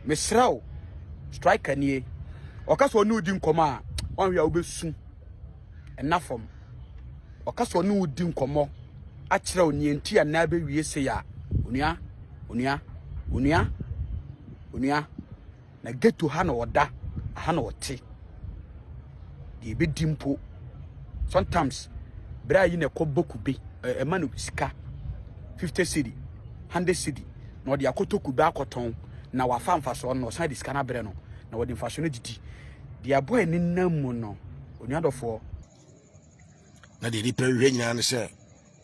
Mesrɛ wo, Striker nie. Ɔka sɛ ɔne wo di nkɔmmɔ a, ɔnhwɛ a wobɛsu. Ɛna fam. Ɔka sɛ ɔne wo di nkɔmmɔ akyerɛ wo neɛ nti a na bɛwie sei a, onua, onua, onua, onua, na ghetto ha na ɔda, aha na ɔte. deɛ ɛbɛdi mpo sometimes bra yi na ɛkɔ bɔ kube ɛma no sika 50 cedi 100 cedi na ɔde akɔtɔ kube akɔtɔn na wafa mfasoɔ no ɔsan de sika no abrɛ no na wɔde mfasoɔ no didi deɛ aboa ɛne nam mu no onuadɔfoɔ na deɛ nipa hwɛ nyinaa no sɛ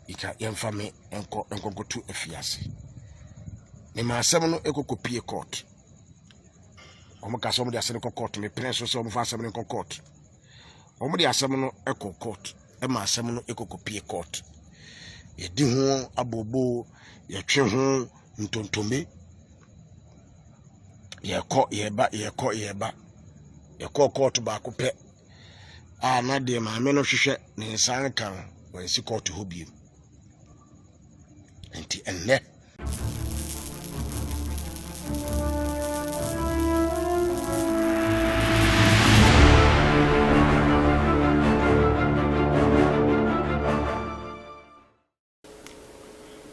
Ika yɛmfa me nkɔ nkɔkoto afiase mema asɛm no ɛkɔkɔpie court wɔn ka sɛ wɔn de asɛm no kɔ court mepene so sɛ wɔn fa asɛm no nkɔ court wɔn de asɛm no ɛkɔ court ɛma asɛm no ɛkɔkɔpie court yɛdi ho abobo yɛtwe ho ntontome yɛkɔ yɛba yɛkɔ yɛba yɛkɔ court baako pɛ a na deɛ maame no hwehwɛ ne nsa nka no wɔnsi kɔɔto hɔ bio nti ɛnnɛ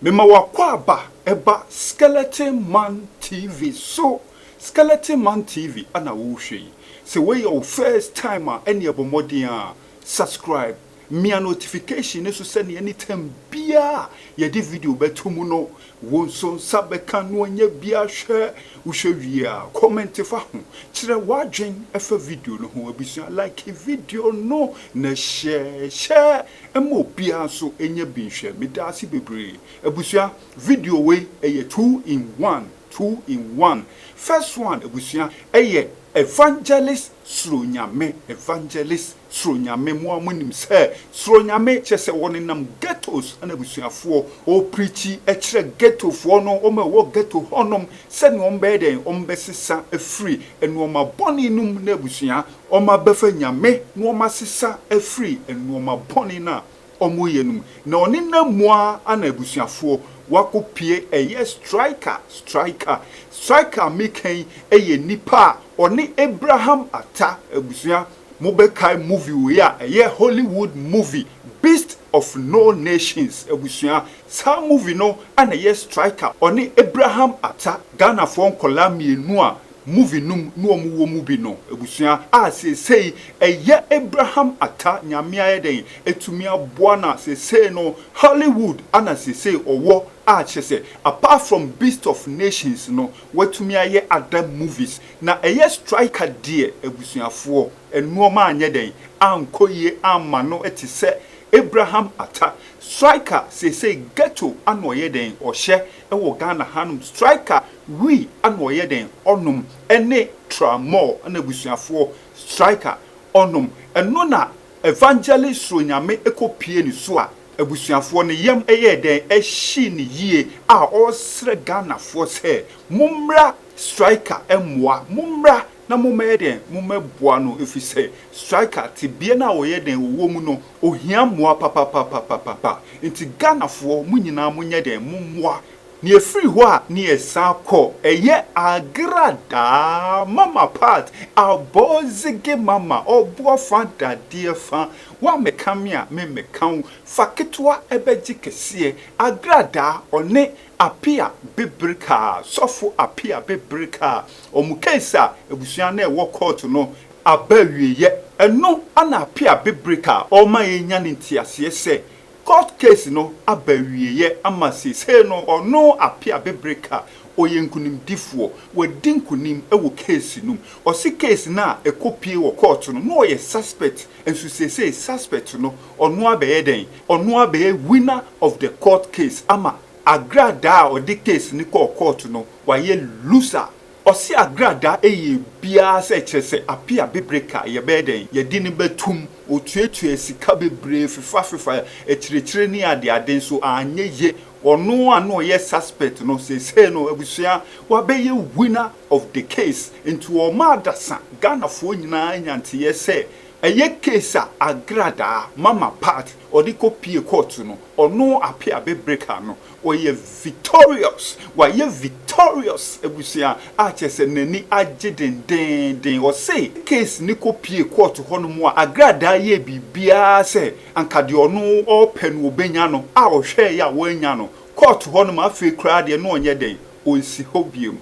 Mema w'akwaaba ɛba Skeleton Man TV so Skeleton Man TV na worehwɛ yi Sɛ wei yɛ wo first time a ɛneɛ bɔ mmɔden ara subscribe Mia notification no so sɛneɛ anytime biara a yɛde video bɛto mu no Wo nso nsa bɛka no ɔnyɛ biara hwɛ wohwɛ wie a comment fa ho kyerɛ wadwen fa video no ho abusua like video no na share share ma obiara nso nyɛ bi nhwɛ medaase bebree abusua video wei ɛyɛ two in one two in one first one abusua ɛyɛ evangelist Suro Nyame Evangelist Suro Nyame Mo a mo nim sɛ Suro Nyame kyerɛ sɛ wɔ nenam ghettos na abusuafoɔ ɔ preachi kyerɛ ghetto foɔ no wɔn a ɛwɔ ghetto hɔ nom sɛdeɛ wɔn bɛyɛ dɛn wɔn bɛ sesa afiri nnoɔma bɔne no mu na abusua wɔn abɛfa Nyame na wɔn asesa afiri nnoɔma bɔne no a ɔmo yɛ no mu na ɔne namoa ana abusuafoɔ wako pie ɛyɛ striker striker striker a meka yi yɛ nipa a ɔne Abraham Atta abusua mo bɛ kae movie wei a ɛyɛ Hollywood movie beast of no nations abusua saa movie no ana ɛyɛ striker ɔne Abraham Atta Ghanafoɔ nkɔlaa mmienu a Movie nom na ɔmo wɔ mu bi no abusua a seesei ɛyɛ Abraham Atta Nyame ayɛ dɛn atumi aboa na seesei no Hollywood ana seesei ɔwɔ a kyerɛsɛ apart from Beast of Nations no watumi ayɛ other movies na ɛyɛ Striker deɛ abusuafoɔ nnoɔma anyɛ dɛn ankɔ yie amma no tesɛ Abraham Atta Striker seesei ghetto ana ɔyɛ dɛn ɔhyɛ wɔ Ghana hanom striker wui ana ɔyɛ dɛn ɔnom ne Tramor na abusuafoɔ striker ɔnom ɛno na Evangelist Suronyame kɔ pie ne so a abusuafoɔ ne yam yɛɛ dɛn hyee no yie a ɔresrɛ Ghanafoɔ sɛ mommra striker mmoa mommra na mommɛyɛ dɛn? Mommɛboa no efisɛ striker tebea no a ɔyɛ dɛn ɔwɔ mu no ɔhia mmoa papapapapapa nti Ghanafoɔ mo nyinaa monyɛ dɛn mommoa na ɛfiri hɔ a na yɛsan kɔ ɛyɛ Agradaa mama part Abɔɔzege mama ɔboɔ fa dadeɛ fa woammɛka me a memmɛka wo fa ketewa ɛbɛgye kɛseɛ Agradaa ɔne Apia Bebrikah, Sɔfo Apia Bebrikah, wɔn case a abusua no ɛwɔ court no aba awieɛ. Ɛno na Apia Bebrikah ɔrema yɛnya no nteaseɛ sɛ court case no aba awieɛ ama seisei no ɔno Apia Bebrikah ɔyɛ nkunimdifoɔ, wadi nkunim wɔ case no mu. Ɔse case no a ɛkɔ pie wɔ court no na ɔyɛ suspect nso seisei suspect no Ɔno abɛyɛ dɛn? Ɔno abɛyɛ winner of the court case ama agradaa a ɔde case no kɔɔ court no wayɛ loser. Ɔse agradaa ɛyɛ biaa sɛ kyerɛ sɛ ape abebere ka yɛbɛyɛ dɛn? Yɛde no bɛtum. Ɔtuatuaa sika bebree fefa fefa akyirikyiri ne ade ade nso anyɛ ye. Ɔno a na ɔyɛ suspect no seesei no abusua wabɛyɛ winner of the case. Nti ɔma adasa Ghanafoɔ nyinaa nya nteyɛ sɛ Ɛyɛ case a agradaa mama part ɔde kɔ pie court no ɔno ape abebreka no ɔyɛ victorious wayɛ victorious abusua a kyerɛ sɛ nani agye dendeenden ɔse case no kɔ pie court hɔ nom a agradaa yɛɛ biribiaa sɛ anka deɛ ɔno ɔɔpɛ no ɔbɛnya no a ɔhwɛɛe a wannya no court hɔ nom afei koraa deɛ na ɔnyɛ dɛn ɔnsi hɔ biom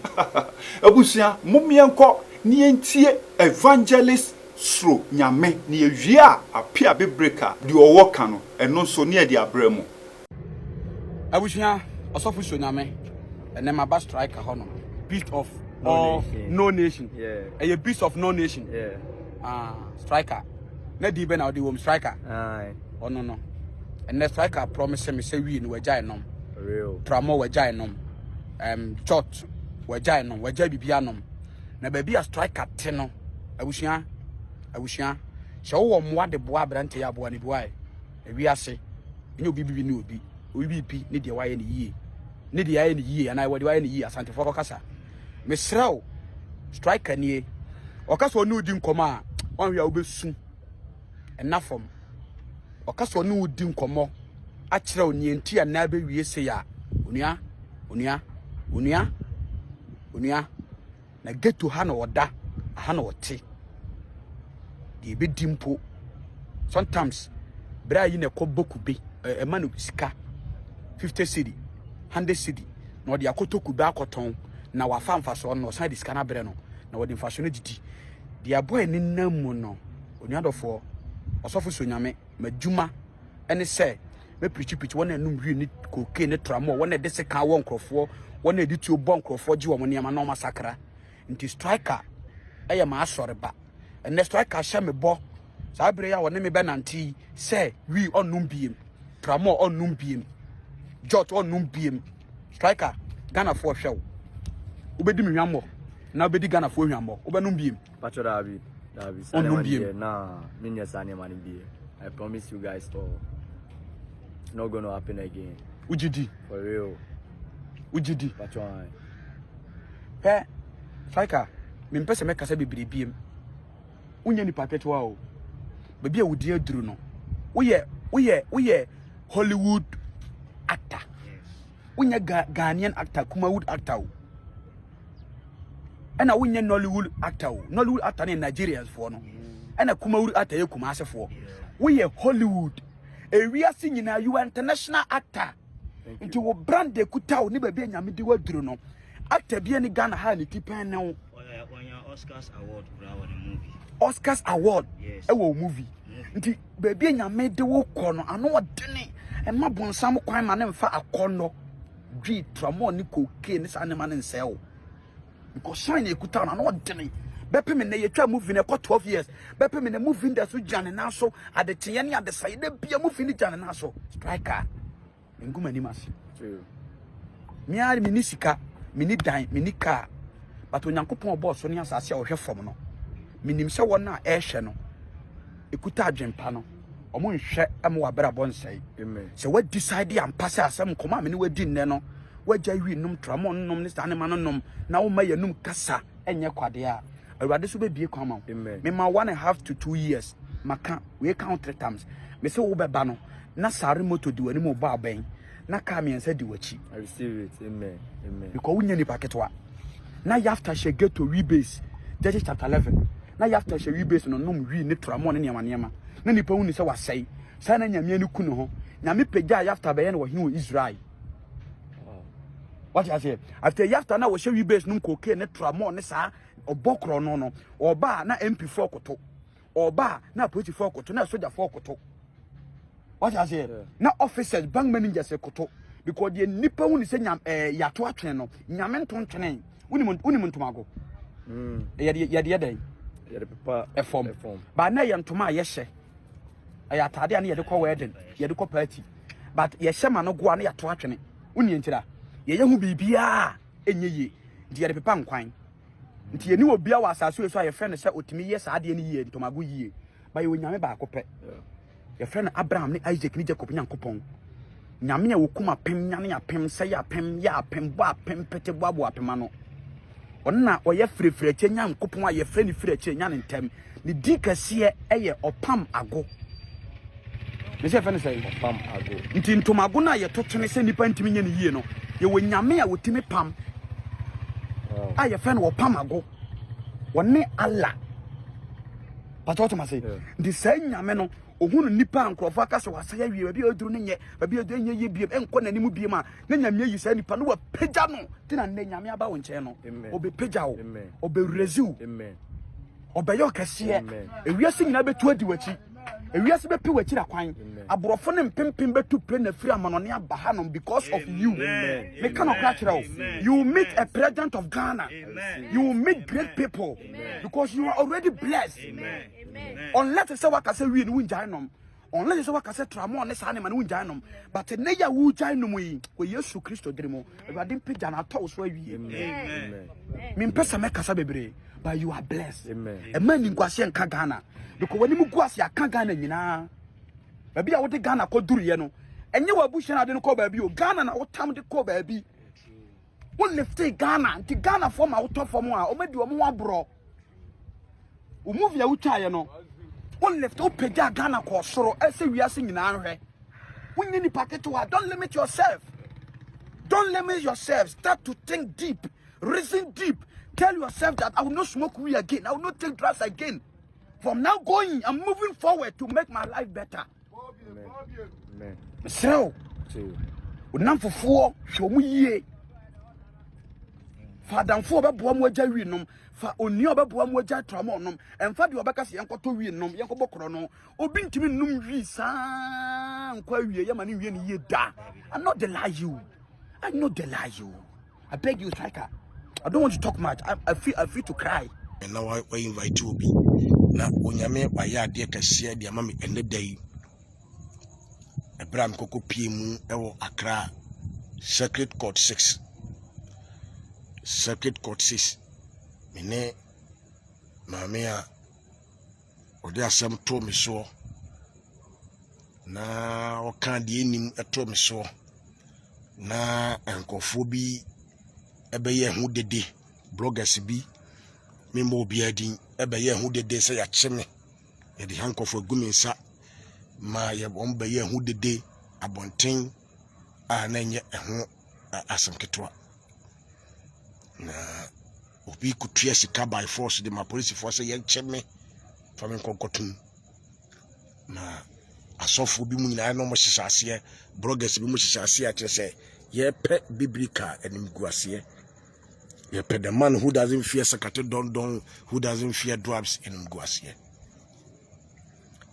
abusua mom yɛnkɔ na yɛntie evangelist Suro Nyame, na yɛwie a, ape a bebire ka deɛ ɔwɔ ka no, ɛno nso ne yɛde abrɛ mo. Abusua, Ɔsɔfo Suro Nyame, ɛnɛ maba striker hɔ nom, Beast of all no nation, ɛyɛ Beast of no nation, ah, striker, na din bɛ na ɔde wɔ mu, striker, ɔno no, ɛnɛ striker promise me sɛ wie no wagyae nom, tramɔ wagyae nom, um, jot wagyae nom, wagyae bibia nom, na baabi a striker te no abusua abusua sɛ wowɔ mmoa de boa aberante yɛ aboa ne boae ewi ase ɛnyɛ obi bibi ne obi obi bibi ne deɛ wayɛ ne yie ne deɛ ayɛ ne yie anaa wɔde wayɛ ne yie asantefoɔ kɔkasa mesrɛ wo striker nie ɔka sɛ ɔne odi nkɔmmɔ a ɔnhwɛ a wobɛsu ɛna fam ɔka sɛ ɔne odi nkɔmmɔ akyerɛ wo neɛ nti a na bɛwie se a onua onua onua Onua, na ghetto ha na ɔda, aha na ɔte. Deɛ ɛbɛdi mpo, sometimes bra yi na ɛkɔ boku be, ɛma no sika, 50 cedi, 100 cedi, na ɔde akɔtɔ kube akɔtɔn, na wafa mfasoɔ no, na ɔsan de sika no abrɛ no, na wɔde mfasoɔ no didi. Deɛ ɛbɔ ɛne nam mu no, onua dɔfoɔ, ɔsɔfo Sonyame, m'adwuma ne sɛ mɛpirikyiprikyi wɔn a ɛnom wii ne kokaine ne tramɔ wɔn a ɛde sekan wɔ nkurɔfoɔ wɔn a ɛde tuo bɔ nkurɔfoɔ gye wɔn nneɛma na wɔasakra nti striker ɛyɛ m'asɔreba ɛnɛ striker hyɛ me bɔ saa berɛ yi a wɔne me bɛnante yi sɛ wii ɔnnom biem tramɔ ɔnnom biem jot ɔnnom biem striker ghanafoɔ hwɛ wo wobɛdi me hwammɔ na wobɛdi ghanafoɔ hwammɔ wobɛnom biem Pacho daabi daabi saa nneɛma deɛ na menyɛ saa nneɛma no bie I promise you guys all it's not gonna happen again. Wogye di? For real. Wogye di? Pacho an. Pɛ Faika mempɛ sɛ mɛkasa bebree biem wonyɛ nipa ketewa o baabi a wodi aduru no woyɛ woyɛ woyɛ Hollywood actor wonyɛ Ghanaian actor Kumawood actor o. ɛna wonyɛ nollywood actor o nollywood actor ne nigerians foɔ no ɛna kumawood actor yɛ kumase foɔ woyɛ hollywood ewiase nyinaa you are international actor nti wo brand de kuta wo ne baabi anyame di waduro no actor bi ne ghana ha ne ti pɛn ne wo oscars award kura wɔ ne movie oscars award ɛwɔ wo movie nti baabi anyame de wo kɔ no ano ɔdene ɛma bonsam kwan ma ne mfa akɔ no Dwi, Tramol ne Cocaine ne saa nneɛma no nsɛe wo. Because shine a ɛkuta no, ano ɔdene. Bɛpem nnɛ yɛtwa movie no ɛkɔ 12 years. Bɛpem nnɛ movie no da so gyina ne nan so. Adekyeeɛ ne adesaeɛ da bia movie no gyina ne nan so. Striker, mengu m'anim ase. Me ara menni sika, menni dan, menni kaa. But Onyankopɔn ɔbɔɔ so ne asase a ɔhwɛ fam no, menim sɛ wɔn a ɛrehwɛ no, ɛkuta adwempa no. Ɔmo nhwɛ ma w'abrabɔ nsɛe. Sɛ wa decide ampa sɛ asɛm nkɔmɔ a me ne wadi nnɛ no, wagya wi nom tramɔ nom ne saa nneɛma no nom na woma yɛnum kasa ɛnyɛ kwadeɛ a, Awurade so bɛbie kwan ma wo. Mema one and half to two years maka wei ka ho three times. Mese wobɛba no na sare moto di w'anim bɔ abɛn. na kaa mmiɛnsa di w'akyi. I receive it. Amen. Amen. Because wo nyɛ nipa ketewa. Na yafta hyɛ ghetto we base. Judges chapter eleven. Na yafta hyɛ we base no nom we ne tura mo ne nneɛma nneɛma. Na nipa hu ni sɛ wasɛe. Saa na nyamea ne ku ne ho. Nyame pagya yafta bɛyɛ no wɔhene wɔ Israel. What you say? After yafta na wɔhyɛ we base nom koke ne tura mo ne saa ɔbɔ korɔ no no. Ɔba na MP4 koto. ɔba a na apolisifoɔ koto na asogyafoɔ koto wate aseɛ na officers bank managers koto because deɛ nipa hu ne sɛ nyam ɛɛ eh, yato atwene no nyame nto ntwene wonim wonim ntomago mm. yɛde yɛde yɛ dɛn yɛde pepa ɛfam baa na yɛ ntoma a yɛhyɛ ɛyɛ ataade a ne yɛde kɔ wedding yɛde kɔ party but yɛhyɛ ma no goa na yato atwene wonim ntira yɛyɛ ho biribiara ɛnyɛ yie nti yɛde pepa nkwan Nti yɛni obia wɔ asase wei so a yɛfrɛ no sɛ ɔtumi yɛ saa adeɛ no yie, ntomago yie. Ba yɛwɔ Nyame baako pɛ. Yɛfrɛ no Abraham ne Isaac ne Jacob Nyankopɔn. Nyame a wɔkum apem, nyane apem, sɛe apem, yɛ apem, bɔ apem, pete boaboa apem ano. Ɔno na ɔyɛ firefiri akyɛ Nyankopɔn a yɛfrɛ no firi akyɛ nyane ntɛm. ne din kɛseɛ yɛ ɔpam ago ne sɛ yɛfɛ no sɛ ɔpam ago nti ntomago no a yɛto kyene sɛ nnipa ntumi nyɛ no yie no yɛwɔ nyame a wɔtumi pam a yɛfɛ no ɔpam ago wɔne ala pata ɔtoma se nti saa nyame no Ohunu nnipa a nkurɔfo aka sɛ wɔasɛe awie, baabi a aduru no nyɛ baabi a ɛnyɛ yie bio, ɛnkɔ n'anim bio a, na Nyame ayi saa nipa no, wapagya no. Nti na nnɛ Nyame aba wo nkyɛn no, ɔbɛpagya wo, ɔbɛwurazi wo, ɔbɛyɛ wo kɛseɛ. Ewiase nyinaa bɛtu adi w'akyi. Ewiase bɛpe w'akyira kwan. Aborɔfo no mpempem bɛtu pire na firi amanɔne aba hanom because of you. Meka nɔkora kyerɛ wo, you will meet a president of Ghana. You will meet great people because you are already blessed. unless sɛ waka sɛ wie no wongyae nom unless sɛ waka sɛ tramɔ ne saa ne ma no wongyae nom but nnɛ yɛ a wogyae nom yi wɔ yesu kristo dere mu awurade mpagya no atɔ wo so awie mempɛ sɛ mɛkasa bebree but you are blessed ɛma ni nkwase nka ghana because w'anim gu ase aka ghana nyinaa baabi a wode ghana kɔduruiɛ no ɛnyɛ w'abusua no ade no kɔ baabi o ghana na wotam de kɔ baabi wo lifte ghana nti ghanafoɔ ma wotɔ fam a ɔmadi ɔmo ho aborɔ wo movie a wotwaeɛ no wo lift wo pagya Ghana kɔɔ soro ɛsɛ wiase nyinaa nhwɛ wonyɛ nipa ketewa don't limit yourself don't limit yourself start to think deep reason deep tell yourself that I will not smoke weed again I will not take drugs again from now going I'm moving forward to make my life better mesrɛ wo wonamfofoɔ hwɛ ɔmo yie fa adamfoɔ ɔbɛboa mu agya wi nom fa onua ɔbɛboa mu agya tra mo nom ɛmfa deɛ ɔbɛka sɛ yɛnkɔtɔ wi nom yɛnkɔbɔ korɔ no obi ntumi nnom wi saa nkɔ awie yɛma ne nwie ne yie da ano de la you ano de la you I beg you, striker. I don't want to talk much. I, I feel I feel to cry. na wa invite obi na onyame wayɛ adeɛ kɛseɛ deɛ ama me ɛnɛ da yi ɛberɛ a mekɔkɔ pie mu ɛwɔ akra circuit court 6 circuit court 6 me ne maame a ɔde asɛm too me soɔ na ɔka deɛ nim too me soɔ na nkurɔfoɔ bi ɛbɛyɛ ho dede bloggers bi memmɔ obiara din ɛbɛyɛ ho dede sɛ yɛakye me yɛde ha nkurɔfoɔ agu me nsa ma yɛ wɔn bɛyɛ ho dede abɔnten a na ɛnyɛ ɛho asɛm ketewa na Obi kutua sika by force de ma polisifoɔ sɛ yɛnkyɛ me fa me nkɔnkɔtom. Na asɔfoɔ bi mu nyinaa na wɔhyehyɛ aseɛ, bloggers bi mu hyehyɛ aseɛ akyerɛ sɛ yɛpɛ bibiri ka animguaseɛ. Yɛpɛ the man who doesn't fear sakate dɔndɔn, who doesn't fear dwarfs animguaseɛ.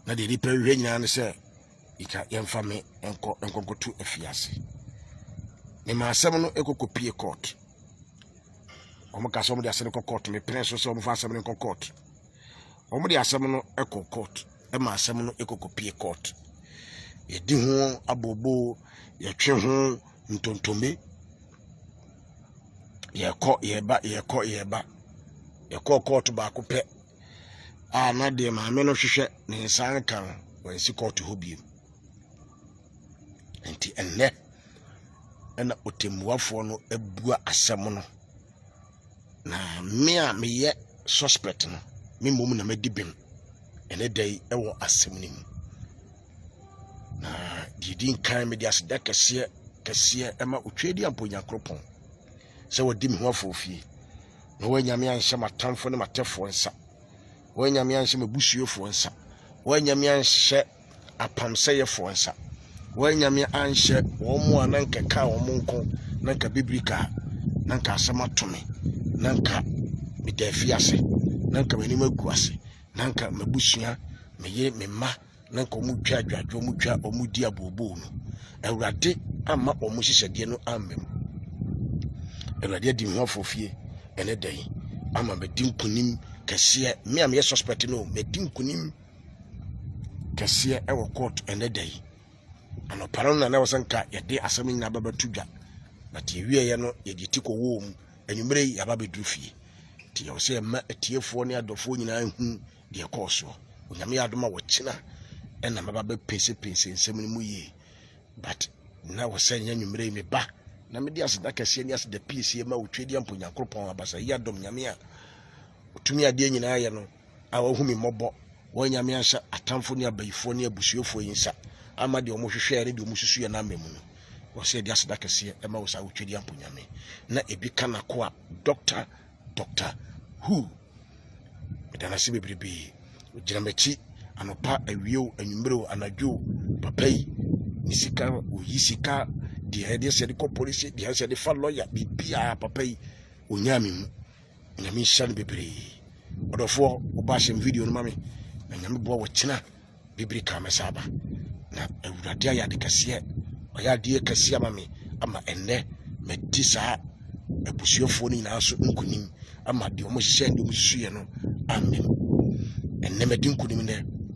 Na deɛ nipa hwehwɛ nyinaa ne sɛ yɛka yɛmfa me nkɔ nkɔnkɔto afiase. Mema asɛm no ɛkɔkɔpie court. wɔn kasa wɔn de asɛm kɔ court mepene so sɛ wɔn fa asɛm no nkɔ court wɔn de asɛm no kɔ court ɛma asɛm no kɔkɔ pie court yɛdi ho abobo yɛtwe ho ntontome yɛkɔ yɛba yɛkɔ yɛba yɛkɔ court baako pɛ a na deɛ maame no hwehwɛ ne nsa nka no wɔnsi court hɔ bio nti ɛnnɛ ɛna ɔtɛmmuafoɔ no abua asɛm no na me a meyɛ suspect no me mmom na madi bem ɛne da yi ɛwɔ asɛm no mu na deɛ di nkan mede aseda kɛseɛ kɛseɛ ɛma otwa di ampo nyakoropɔn sɛ wɔdi me ho afɔfie na wɔanyame anhyɛ m'atamfo ne m'atɛfoɔ nsa wɔanyame anhyɛ m'abusuafoɔ nsa wɔanyame anhyɛ apamsɛyɛfoɔ nsa. Wɔanyame anhyɛ wɔn a na nka kaa wɔn nko na nka bibiri kaa na nka asɛm ato me na nka meda afi ase na nka m'anim agu ase na nka m'abusua me yere me mma na nka wɔn twa adwadwo wɔn twa wɔn di abooboo no awurade ama wɔn hyehyɛdeɛ no amma mu awurade adi ho afofie ɛne dɛn ama mɛdi nkunim kɛseɛ me a meyɛ suspect no mɛdi nkunim kɛseɛ ɛwɔ court ɛnɛ da yi anɔpa no na na ɛwɔ sɛ nka yɛde asɛm no nyinaa bɛbɛto dwa but yɛwieɛ no yɛde ti kɔwɔɔ mu anwummerɛ yi yɛaba bɛduru fie nti yɛwɔ sɛ yɛma atiefoɔ ne adɔfoɔ nyinaa hu deɛ ɛkɔɔ soɔ onyame yɛ adom a wɔkyena ɛna mɛba bɛpɛnsɛpɛnsɛ nsɛm no mu yie but na wɔ sɛ nyɛ anwummerɛ yi meba na mede aseda kɛseɛ ne aseda piesie ma wotwadeɛ mpo nyankoropɔn abasa yi adom nyame a ɔtumi adeɛ nyinaa yɛ no a wɔahu me mmɔbɔ, wɔn anyame anhyɛ atamfo ne abayifoɔ ne abusuafoɔ yi nsa ama deɛ wɔhwehwɛɛ ne deɛ wɔsusuiɛ no ama mu no. Wɔsɛ yɛde aseda kɛseɛ ɛma wo saa wotwadi ampo nyame na ebi ka nakoa dɔkta dɔkta hu meda no ase bebrebee gyina m'akyi anɔpa awiew anwummerɛw anadwo papa yi ne sika oyi sika deɛ ɛde sɛ de kɔ polisi deɛ sɛ de fa lɔya biribiara papa yi onyaa me mu nyame nhyira no bebree ɔdɔfoɔ ɔba ahyɛ m video no ma me na nyame boa wɔkyena bibiri ka mɛsa aba na awurade ayɛ ade kɛseɛ ɔyɛ adeɛ kɛseɛ ama me ama ɛnnɛ madi saa abusuafoɔ no nyinaa so nkonim ama deɛ ɔmo hyɛ deɛ ɔmo susuiɛ no amen ɛnnɛ madi nkonim nɛ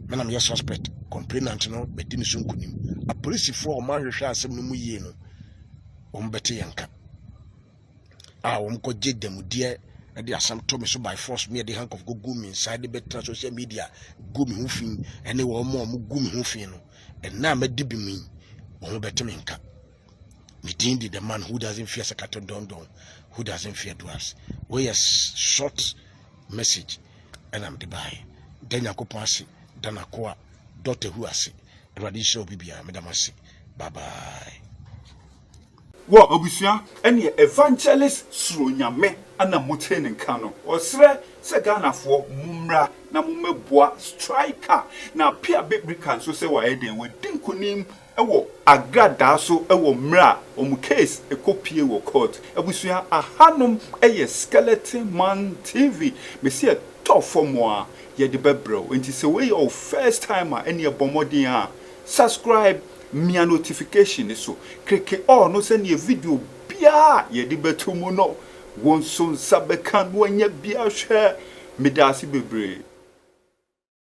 mena meyɛ suspect complainant no madi ne so nkonim apolisifoɔ a ɔmo ahwehwɛ asɛm no mu yie no wɔn bɛte yɛn ka a wɔn kɔ gye dɛmudeɛ ɛde asɛm to me so by force me ɛde handcuff go gu me nsa ɛde bɛtena social media gu me ho fi ɛne wɔn a wɔn gu me ho fi no ɛnna a mɛdi bi mu yi wɔn bɛte me nka me din di the man who doesn't fear sakato dɔndɔn who doesn't fear dwarfs wɔyɛ short message ɛna mede baeɛ da nyankopɔn ase da nakoa dɔta hu ase awurade nhyira obi biara meda mo ase bye bye Wɔ abusua ne evangelist suro Nyame na motie ne nka no. Ɔsrɛ sɛ Ghanafoɔ mommra na mommɛboa Striker na Pia Bebrika nso sɛ wayɛ dɛn wadi nkunim wɔ agradaa so wɔ mmerɛ a wɔn case kɔ pie wɔ court. Abusua ahanom yɛ Skeleton Man TV mese ɛtɔ fam a yɛde bɛbrɛ wo nti sɛ wei yɛ wo first time a ɛneɛ bɔ mmɔden a subscribe Mia notification no so, kleke all no sɛdeɛ video biara a yɛde bɛto mu no wo nso nsa bɛka na wanya bi ahwɛ. Medaase bebree.